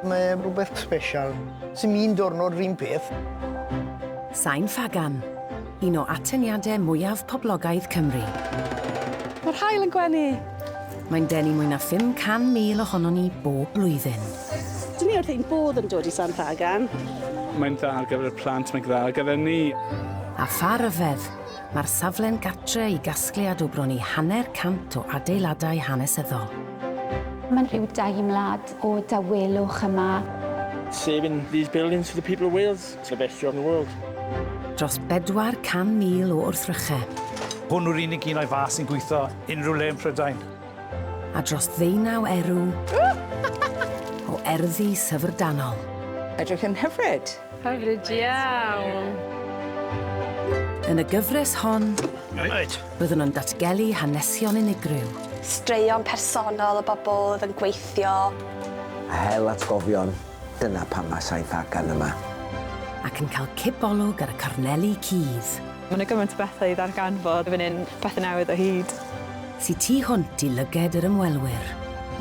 Mae rhywbeth special. Sy'n un diwrnod rhywun peth. Sain Ffagan, un o atyniadau mwyaf poblogaidd Cymru. Mae'r haul yn gwenu! Mae'n denu mwy na 500,000 ohonon ni bob blwyddyn. Dyn ni wrth ein bodd yn dod i Sain Ffagan. Mae'n dda ar gyfer y plant, mae'n dda ar gyfer ni. A pha ryfedd! Mae'r safle'n gartre i gasgliad o bron i hanner cant o adeiladau hanesyddol. Mae'n rhyw deimlad o dawelwch yma. Saving these buildings for the people of Wales, it's the best job in the world. Dros 400,000 o wrthrychau. Hwn yw'r unig un o'i fath sy'n gweithio unrhyw le yn Prydain. A dros ddeunaw erw o erddi syfrdanol. Edrych yn hyfryd! Hyfryd iawn! Yn y gyfres hon, byddwn yn datgelu hanesion unigryw. Straeon personol o bobl oedd yn gweithio. A hel atgofion, dyna pam mae Saith Agan yma. Ac yn cael cipolwg ar y corneli cudd. Mae 'na gymaint o bethau i ddarganfod fan hyn, pethau newydd o hyd. Sy tu hwnt i lyged yr ymwelwyr.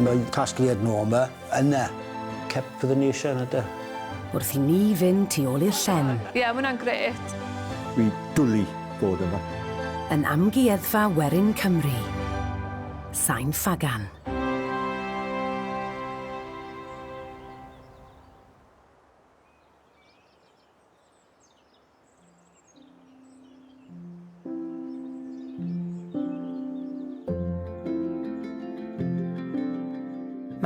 Mae casgliad Norma Yna, cep fyddwn ni eisiau yna de. Wrth i ni fynd tu ôl i'r llen. Ie, mae hwnna'n grêt. Dwi dwli bod yma. Yn Amgueddfa Werin Cymru. Sain Ffagan.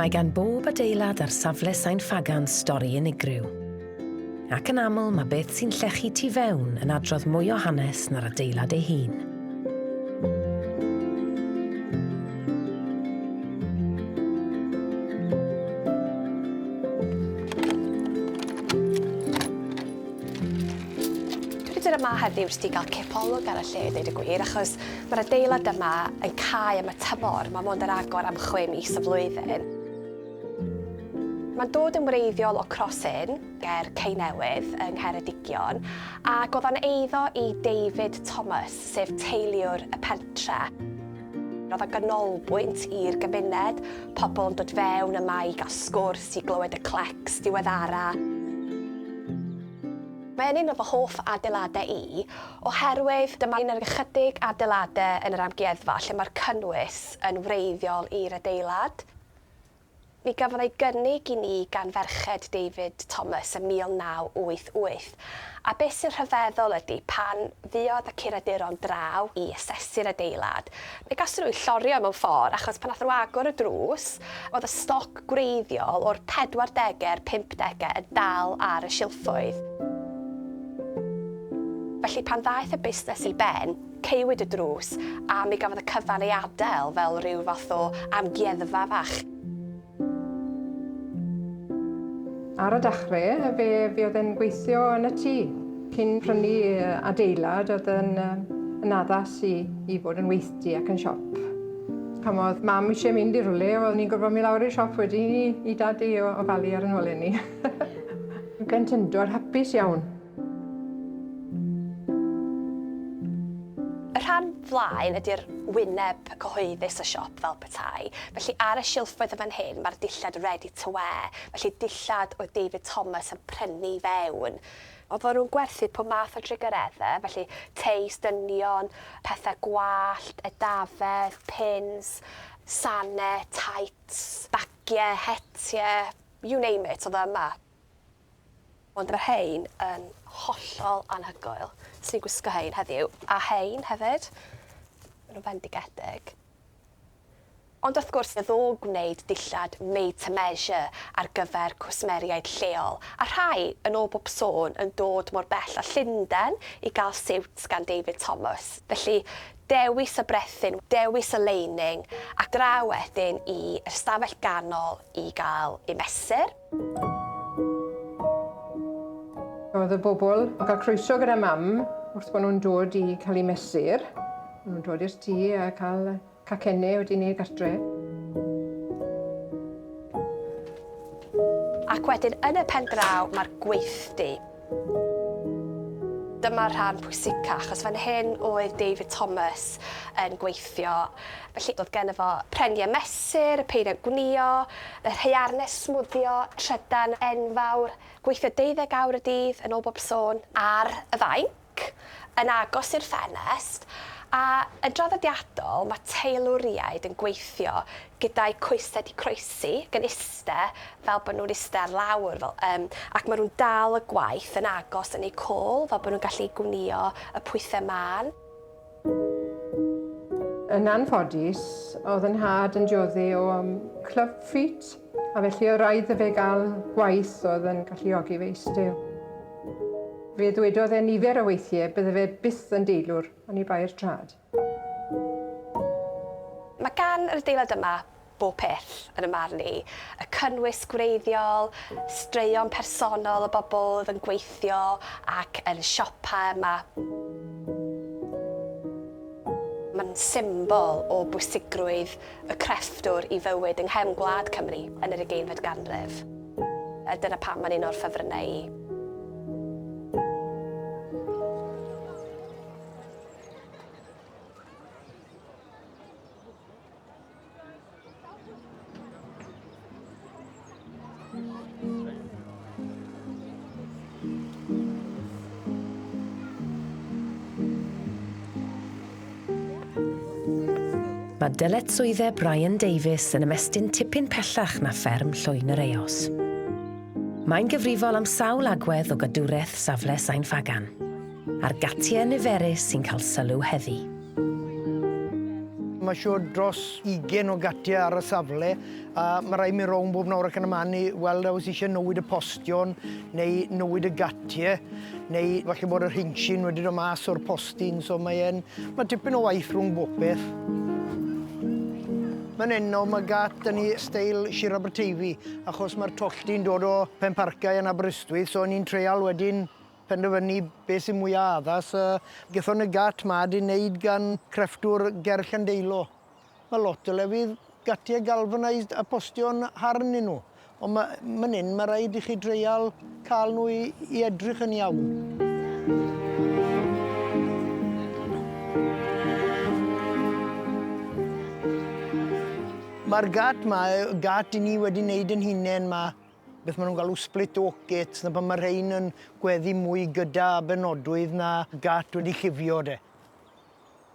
Mae gan bob adeilad ar safle Sain Ffagan stori unigryw. Ac yn aml mae beth sy'n llechu tu fewn yn adrodd mwy o hanes na'r adeilad ei hun. yma heddiw jyst i ga'l cipolwg ar y lle deud y gwir achos ma'r adeilad yma yn cau am y tymor ma' mond ar agor am chwe mis y flwyddyn. Ma'n dod yn wreiddiol o Cross Inn. ger Ceinewydd yng Ngheredigion, a gofan eiddo i David Thomas, sef teiliwr y pentre. Roedd o'n ganolbwynt i'r gymuned, pobl yn dod fewn yma i gael sgwrs, i glywed y clecs diweddara. Mae yn un o fy hoff adeiladau i, oherwydd dyma un o'r ychydig adeiladau yn yr amgueddfa lle mae'r cynnwys yn wreiddiol i'r adeilad. Mi gafodd ei gynnig i ni gan ferched David Thomas ym 1988, a beth sy'n rhyfeddol ydy, pan fuodd y curaduron draw i asesu'r adeilad, fe gason nhw eu llorio mewn ffordd, achos pan nathon nhw agor y drws, oedd y stoc gwreiddiol o'r pedwardege a'r pumpdege yn dal ar y silffoedd. Felly, pan ddaeth y busnes i ben, Caewyd y drws a mi gafodd y cyfan ei adael fel rhyw fath o amgueddfa fach. Ar y dechre fe fuodd e'n gweithio yn y tŷ. Cyn prynu adeilad o'dd yn yn addas i i fod yn weithdy ac yn siop. Pan o'dd mam isie mynd i rywle o'dd ni'n gorfod myn' lawr i'r siop wedyn i i dad i o- ofalu ar 'yn holen ni. Blentyndod hapus iawn. Y rhan flaen ydy'r wyneb cyhoeddus y siop fel petai, felly ar y silffoedd yn fan hyn mae'r dillad ready to wear, felly dillad oedd David Thomas yn prynu i fewn. Oedden nhw'n gwerthu pob math o drugaredde, felly teis, dynion, pethau gwallt, edafedd, pins, sane, tights, bagiau, hetiau, you name it, oedd o yma. Ond mae rhein yn hollol anhygoel. Swn i'n gwisgo rhein heddiw, a rhein hefyd. Maen nhw'n fendigedig. Ond wrth gwrs, fe ddow gwneud dillad made to measure ar gyfer cwsmeriaid lleol, a rhai, yn ôl bob sôn, yn dod mor bell â Llundain i gael siwt gan David Thomas. Felly, dewis y brethyn, dewis y lining, a draw wedyn i'r stafell ganol i gael eu mesur. Oedd y bobl yn cael croeso gyda mam wrth bod nhw'n dod i cael eu mesur. Maen nhw'n dod i'r tŷ a cael cacenne wedi wneud gartre. Ac wedyn yn y pen draw mae'r gweithdy. Dyma'r rhan pwysica, achos fan hyn oedd David Thomas yn gweithio. Felly, oedd geno fo prenie mesur, y peiriant gwnïo, yr haearnau smwddio, trydan enfawr, gweithio deuddeg awr y dydd, yn ôl bob sôn, ar y fainc, yn agos i'r ffenest, a yn draddodiadol, mae teilwriaid yn gweithio gyda'i coesau 'di croesi gan iste fel bod nhw'n iste ar lawr fel yym ac ma' nhw'n dal y gwaith yn agos yn eu cwl fel bod nhw'n gallu gwnïo y pwythau mân. Yn anffodus, oedd 'y nhad yn diodde o club feet a felly oedd raid 'da fe gael gwaith oedd yn galluogi fe iste. Fe ddwedodd e nifer o weithiau bydde fe byth yn deilwr oni bai'r traed. Mae gan yr adeilad yma bob peth, yn 'y marn i, y cynnwys gwreiddiol, straeon personol y bobl oedd yn gweithio ac yn siopa yma. Mae'n symbol o bwysigrwydd y crefftwr i fywyd yng nghefn gwlad Cymru yn yr ugeinfed ganrif, a dyna pam mae'n un o'r ffefrynnau i. Mae dyletswyddau Brian Davies yn ymestyn tipyn pellach na fferm Llwyn yr Eos. Mae'n gyfrifol am sawl agwedd o gadwraeth safle Sain Ffagan. A'r gatiau niferus sy'n cael sylw heddi. Mae siŵr dros 20 o gatiau ar y safle a mae rhaid mi rownd bob nawr ac yn y man i weld a oes eisiau newid y postion neu newid y gatiau neu falle bod yr hinsyn wedi dod mas o'r postyn so mae e'n... mae tipyn o waith rhwng bob peth. Mae'n enno mae gat yn ei steil Sir Aberteifi achos mae'r tollti'n dod o Penparcau yn Aberystwyth so ni'n treial wedyn penderfynu beth sy'n mwya' addas a gethon y gat 'ma 'di neud gan crefftwr ger Llandeilo. Ma' lot o lefydd gatie galvanised a postio'n hardd 'nyn nhw ond ma' myn 'yn ma' raid i chi dreial ca'l nhw i i edrych yn iawn. Ma'r gat 'ma yy gat i ni wedi neud 'yn hunen 'ma. beth maen nhw'n galw split oak gates, na pan mae rhain yn gweddi mwy gyda benodwydd na gat wedi llifio de.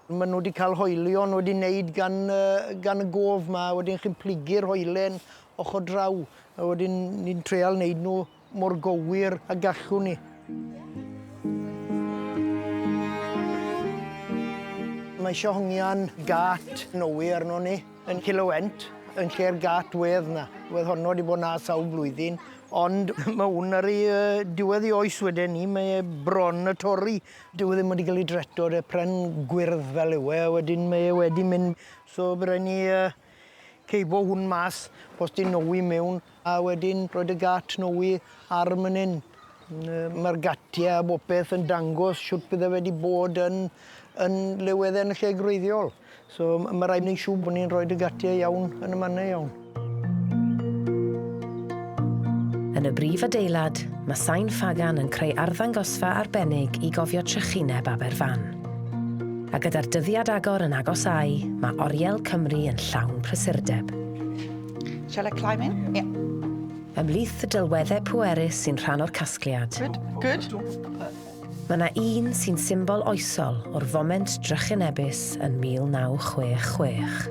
Maen nhw wedi cael hoelion wedi wneud gan, gan y gof ma, wedyn chi'n plugu'r hoelen ochr draw, a wedyn ni'n treol wneud nhw mor gywir a gallwn ni. Mae eisiau hongian gat nowi arno ni. Yn Cilewent, yn lle'r gât wedd 'na. Wedd honno 'di bod 'na sawl blwyddyn, ond ma' 'wn ar ei yy diwedd ei oes weden ni, mae e bron y torri. Dyw e ddim wedi ga'l ei dreto, de, pren gwyrdd fel yw e, a wedyn mae e wedi mynd, so by' rai' ni yy ceibo hwn mas, posdi nowi miwn. A wedyn roedd y gât Snowy ar man 'yn. Yy ma'r gatie a bopeth yn dangos shwt bydde fe 'di bod yn yn le wedd e'n y lle gwreiddiol. So m- ma' raid neu' siŵr bo' ni'n rhoid y gatie iawn yn y mane iawn. Yn y brif adeilad, ma' sain ffagan yn creu arddangosfa arbennig i gofio trychineb Aberfan. A gyda'r dyddiad agor yn agosáu, ma' Oriel Cymru yn llawn prysurdeb. Shall I climb in? Yeah. Ymhlith y delweddau pwerus sy'n rhan o'r casgliad. Good, good. Mae yna un sy'n symbol oesol o'r foment drychinebus yn 1966.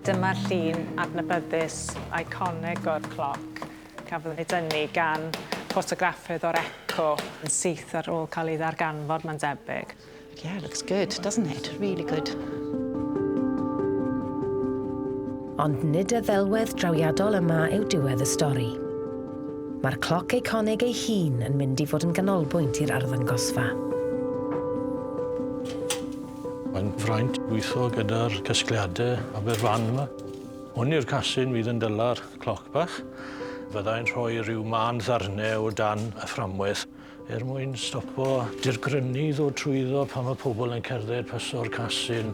Dyma'r llun adnabyddus iconig o'r cloc cafodd ei dynnu gan ffotograffydd o'r Eco yn syth ar ôl cael ei ddarganfod, mae'n debyg. Yeah, looks good, doesn't it? Really good. Ond nid y ddelwedd drawiadol yma yw diwedd y stori. Mae'r cloc eiconig ei hun yn mynd i fod yn ganolbwynt i'r arddangosfa. Mae'n fraint gweithio gyda'r casgliadau Aberfan yma. Hwn yw'r casyn fydd yn dyla'r cloc bach. Fyddai'n rhoi rhyw man ddarnau o dan y fframwaith Er mwyn stopo dirgrynu i ddod trwyddo pan mae pobl yn cerdded paso'r casyn,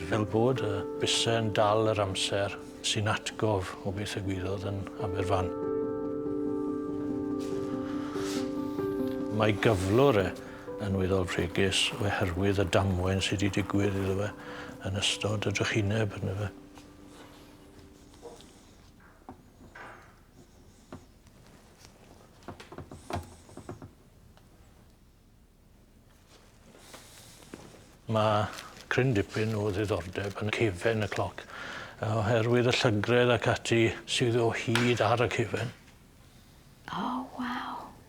fel bod y bysau yn dal yr amser, sy'n atgof o beth egwyddod yn Aberfan. Mae gyflwr e yn weddol fregus oherwydd y damwain sydd wedi digwydd iddo fe yn ystod y drychineb, yna fe. Ma' cryn dipyn o ddiddordeb yn cefen y cloc yy oherwydd y llygredd ac ati sydd o hyd ar y cefen. O waw.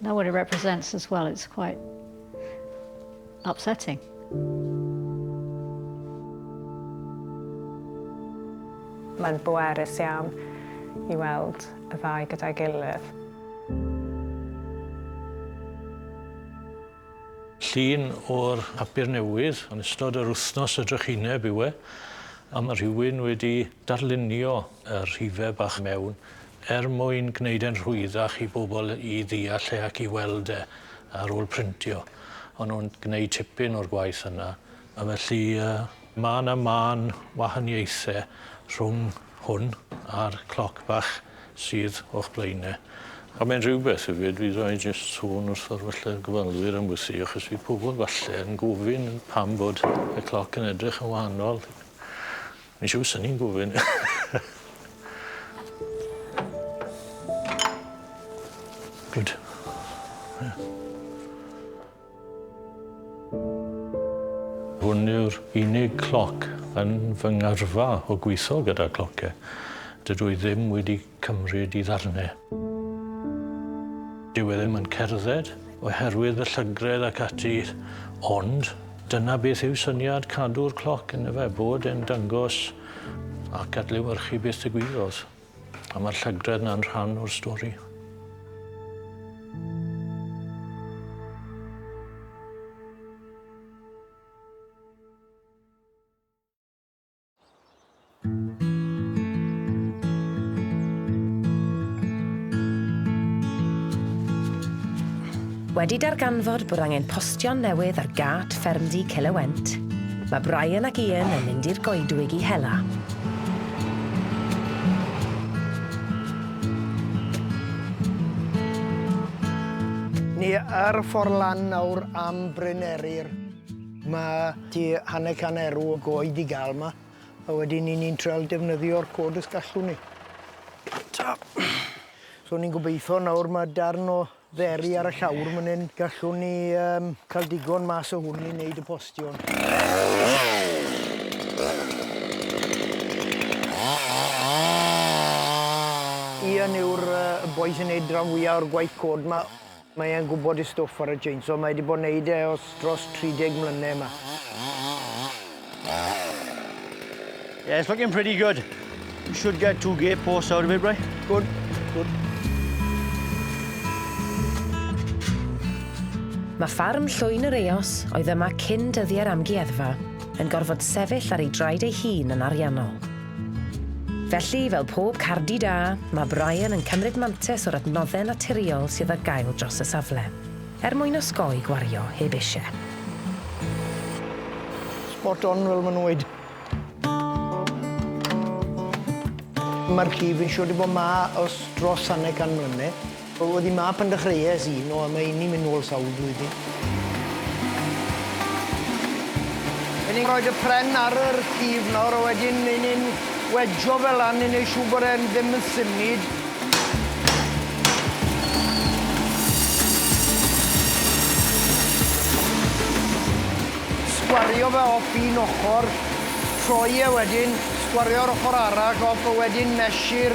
Know what it represents as well, it's quite upsetting. Mae'n bwerus iawn i weld y ddau gyda'i gilydd. Llun o'r papur newydd yn ystod yr wythnos y drychineb yw e, a mae rhywun wedi darlunio y rhifau bach mewn er mwyn gwneud e'n rhwyddach i bobl i ddeall e ac i weld e ar ôl printio. O'n nhw'n gwneud tipyn o'r gwaith yna, a felly ma' 'na mân wahaniaethe rhwng hwn a'r cloc bach sydd o'ch blaen e. A mae'n rhywbeth hefyd, fedra i jyst sôn wrtho'r falle gofalwyr am wthi, achos fydd pobl falle yn gofyn pam bod y cloc yn edrych yn wahanol. Mae'n siŵr swn i'n gofyn. Good. Ie. Hwn yw'r unig cloc yn fy ngyrfa o gwitho gyda clociau. Dydw i ddim wedi cymryd i ddarnau. Dyw e ddim yn cerdded oherwydd y llygredd ac ati, ond dyna beth yw syniad cadw'r cloc yn efe, bod e'n dangos ac adlewyrchu beth ddigwyddodd. A mae'r llygredd na'n rhan o'r stori. Wedi darganfod bod angen postio'n newydd ar gât ffermdy Celewent, mae Brian ac Ian yn mynd i'r goedwig i hela. Ni ar y ffordd lan nawr am Bryn Eryr. Mae tua hanner can erw o goed i gael yma, a wedyn 'yn ni'n trial defnyddio'r cod os gallwn ni. Ta. So ni'n gobeitho nawr mae darn o dderi ar y llawr man 'yn gallwn ni um, cael digon mas o hwn i wneud y postion. Ian yw'r uh, boi sy'n neud rhan fwyaf o'r gwaith cod 'ma. Mae e'n gwbod ei stwff ar y chainsaw, mae e 'di bod neud e os dros 30 mlyne 'ma. Yeah, it's looking pretty good. You should get two gate posts out of it, right? Good, good. Mae ffarm Llwyn yr Eos, oedd yma cyn dyddiau'r amgueddfa, yn gorfod sefyll ar ei draed ei hun yn ariannol. Felly, fel pob cardi da, mae Brian yn cymryd mantes o'r adnoddau naturiol sydd ar gael dros y safle, er mwyn osgoi gwario heb eisiau. Spot on fel ma' nhw'n weud. Ma'r llif yn siŵr 'di bod 'ma ers dros hanner can mlynedd. Oedd hi 'ma pan dechreuais i, no, mae hynny'n mynd nôl sawl blwyddyn. Ry'n ni'n rhoi y pren ar yr llif nawr a wedyn ry'n ni'n wedjo fe lan i wneud siŵr bod e'n ddim yn symud. Sgwario fe off un ochr, troi e wedyn, sgwario'r ochr arall off a wedyn mesur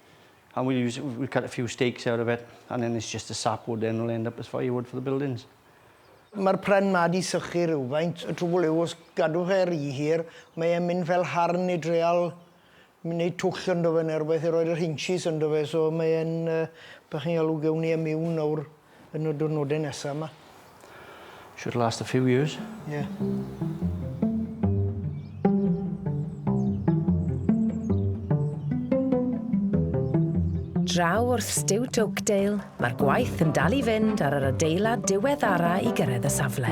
And we use, we cut a few stakes out of it, and then it's just the sap wood then will end up as firewood for the buildings. Mae'r pren 'ma 'di sychu rywfaint, y trwbl yw os gadw fe ry hir, mae e'n mynd fel harn i dreal wneud twll ynddo fe neu rywbeth i roi'r hinges ynddo fe, so mae e'n, yy, be' chi'n galw, gewn ni e miwn nawr. Yn y diwrnodau nesaf yma. Should last a few years. Yeah. Draw wrth Stiwt Oakdale, mae'r gwaith yn dal i fynd ar yr adeilad diweddara i gyrraedd y safle.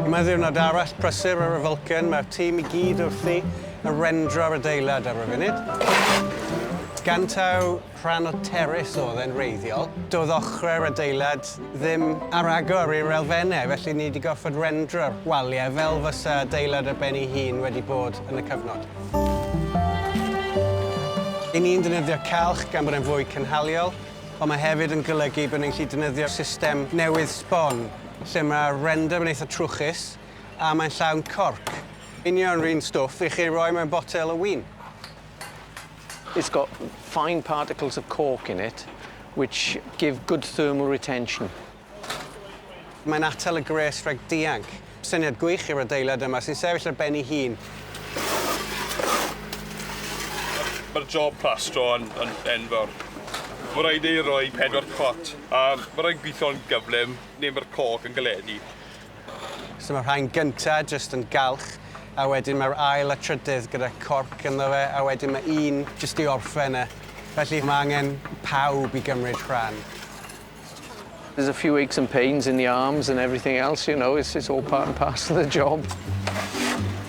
Yma ddiwrnod arall prysur ar y Vulcan, mae'r tîm i gyd wrthi a rendro'r adeilad ar y funud. Gan taw rhan o terrace oedd e'n wreiddiol, doedd ochrau'r adeilad ddim ar agor i'r elfennau, felly ni wedi gorfod rendro'r waliau fel fysa adeilad ar ben ei hun wedi bod yn y cyfnod. Ry'n ni'n defnyddio calch gan bod e'n fwy cynhaliol, ond mae hefyd yn golygu bod ni'n gallu defnyddio system newydd sbon, lle mae'r render yn eitha trwchus, a mae'n llawn corc. Union run stwff i chi roi mewn botel o win. It's got fine particles of cork in it which give good thermal retention. Mae'n atal y gwres rhag dianc. Syniad gwych i'r adeilad yma sy'n sefyll ar ben ei hun. Mae'r job plastro yn, yn enfawr. Mae rhaid ei roi pedwar cot a mae rhaid gweithio'n gyflym neu mae'r cork yn galedu. So mae'r rhain gyntaf jyst yn galch a wedyn mae'r ail a trydydd gyda corc ynddo fe a wedyn mae un jyst i orffen e. Felly mae angen pawb i gymryd rhan. There's a few aches and pains in the arms and everything else, you know, it's all part and parcel of the job.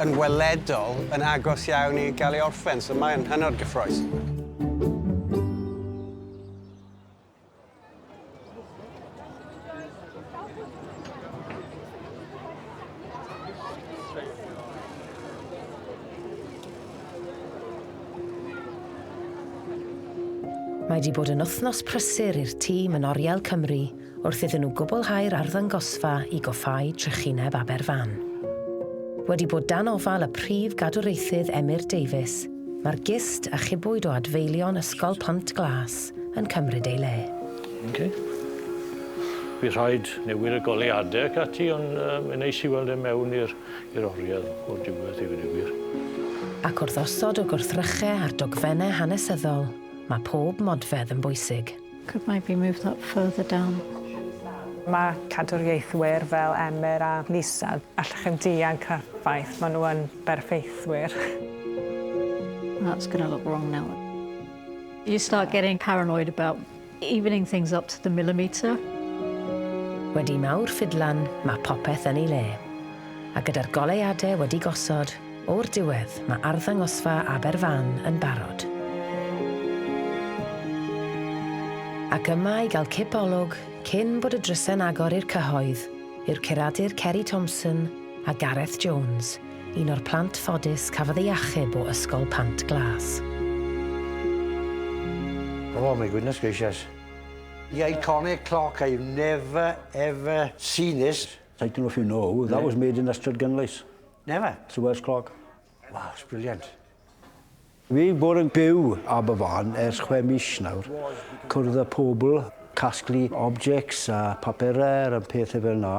yn weledol yn agos iawn i gael ei orffen, so mae'n hynod gyffrous. Mae wedi bod yn wythnos prysur i'r tîm yn Oriel Cymru wrth iddyn nhw gwblhau'r arddangosfa i goffáu trychineb Aberfan. Wedi bod dan ofal y Prif Gadwraethydd Emyr Davies, mae'r gist achubwyd o adfeilion Ysgol Pont Glas yn cymryd ei le. Ok. Bydd rhaid newid y goleuadau ac ati, ond yy mae'n neis i weld e mewn i'r i'r oriel o'r diwedd i ddweud y gwir. Ac wrth osod y gwrthrychau a'r dogfennau hanesyddol, mae pob modfedd yn bwysig. Could maybe move that further down. Mae cadwriaethwyr fel Emyr a Lisa, allwch chi'm dianc o'r ffaith, maen nhw yn berffeithwyr. That's going to look wrong now. You start getting paranoid about evening things up to the millimetre. Wedi mawr ffidlan, mae popeth yn ei le. A gyda'r goleuadau wedi gosod, O'r diwedd, mae arddangosfa Aberfan yn barod. Ac yma i gael cip olwg cyn bod y drysau'n agor i'r cyhoedd yw'r curadur Ceri Thompson a Gareth Jones, un o'r plant ffodus cafodd ei achub o Ysgol Pant Glas. Oh my goodness gracious. The iconic clock, I've never ever seen this. Title of you know, that was made in Ystrad Gynlais. Never. It's the worst clog. Wow, it's brilliant. Fi bod yn byw Aberfan ers chwe mis nawr. Cwrdd y pobl, casglu objects a papurau a pethau fel yna.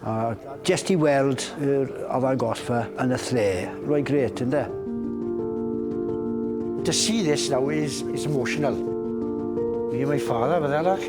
A jest i weld yr afael golfa yn y lle. Rwy'n gret, ynddo? To see this now is, is emotional. Me and my father, fydde arall.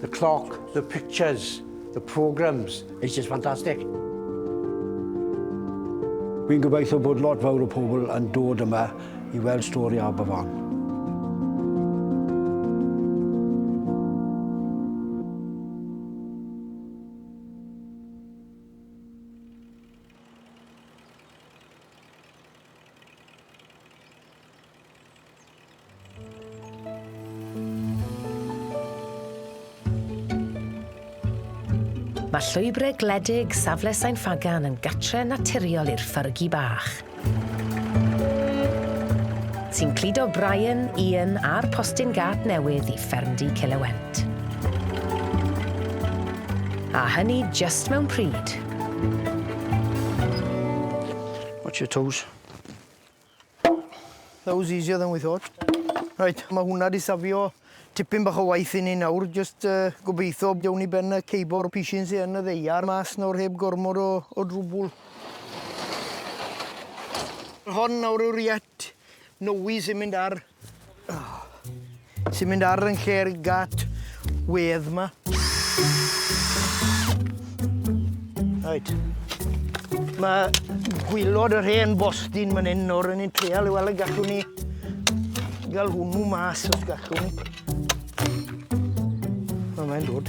The clock, the pictures, the programmes, it's just fantastic. Fi'n gobeithio bod lot fawr o pobl yn dod yma i weld stori Aberfan. Mae llwybrau gwledig safle Sain Ffagan yn gatre naturiol i'r ffyrgi bach, sy'n cludo Brian, Ian a'r postyn gât newydd i ffermdy Cilewent. A hynny jyst mewn pryd. Watch your toes. That was easier than we thought. Reit, mae hwnna wedi safio tipyn bach o waith i ni nawr. Jyst uh, gobeithio dewn ni ben y ceibo'r pishin sy'n yn y ddeiar mas nawr heb gormod o, o drwbwl. Hon nawr yw'r iet nowi sy'n mynd ar Ti'n mynd ar yn lle ar gat wedd ma. Reit. Mae gwylod yr hen bostyn man hyn nawr, yn i'n treal i weld y gallwn ni gael hwnnw mas os gallwn. O, mae'n dod.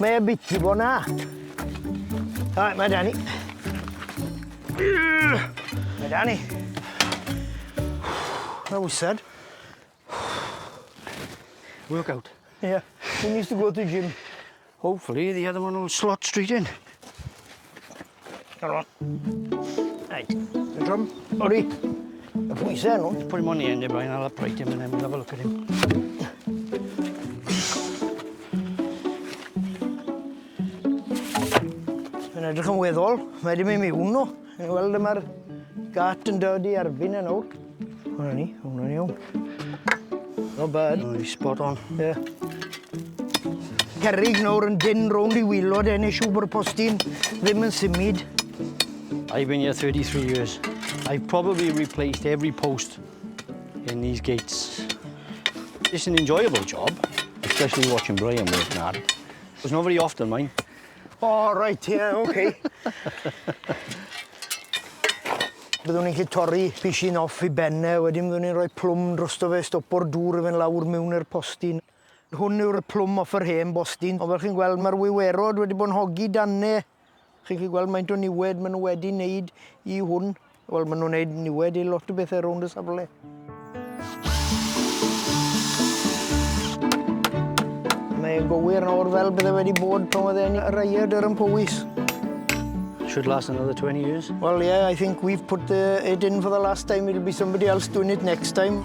Mae e biti bo na. Rai, mae Dani. Mae Dani. Mae wysad. Workout. Yeah. Who needs to go to the gym? Hopefully the other one will slot straight in. Come on. Hey. The drum. Ori. Y pwysau nhw. Put him on the end, Brian. I'll upright him and then we'll have a look at him. Mae'n edrych yn weddol. Mae wedi mynd miwn nhw. Chi'n gweld y mae'r gat yn dod i erbyn yn awr. Hwna ni, hwna ni iawn. No bad. No, spot on. Yeah. Cerrig nawr yn dyn rownd i wylod e, neu siw bod postyn ddim yn symud. I've been here 33 years. I've probably replaced every post in these gates. It's an enjoyable job, especially watching Brian work hard. It's not very often mine. O reit ie ok. Byddwn ni'n gallu torri pishyn off i ben e wedyn fyddwn ni'n rhoi plwm drosto fe stopo'r dŵr i fynd lawr miwn i'r postyn. Hwn yw'r plwm off yr hen bostyn ond fel chi'n gweld mae'r wiwerod wedi bod yn hogi dan e. Chi'n gallu gweld maint o niwed maen nhw wedi wneud i hwn. Wel, maen nhw'n neud niwed i lot o bethe rownd y safle. Mae'n gywir nawr fel bydde wedi bod pan oedd e'n yr aiad ar yn Powys. Should last another 20 years. Well, yeah, I think we've put the, it in for the last time. It'll be somebody else doing it next time.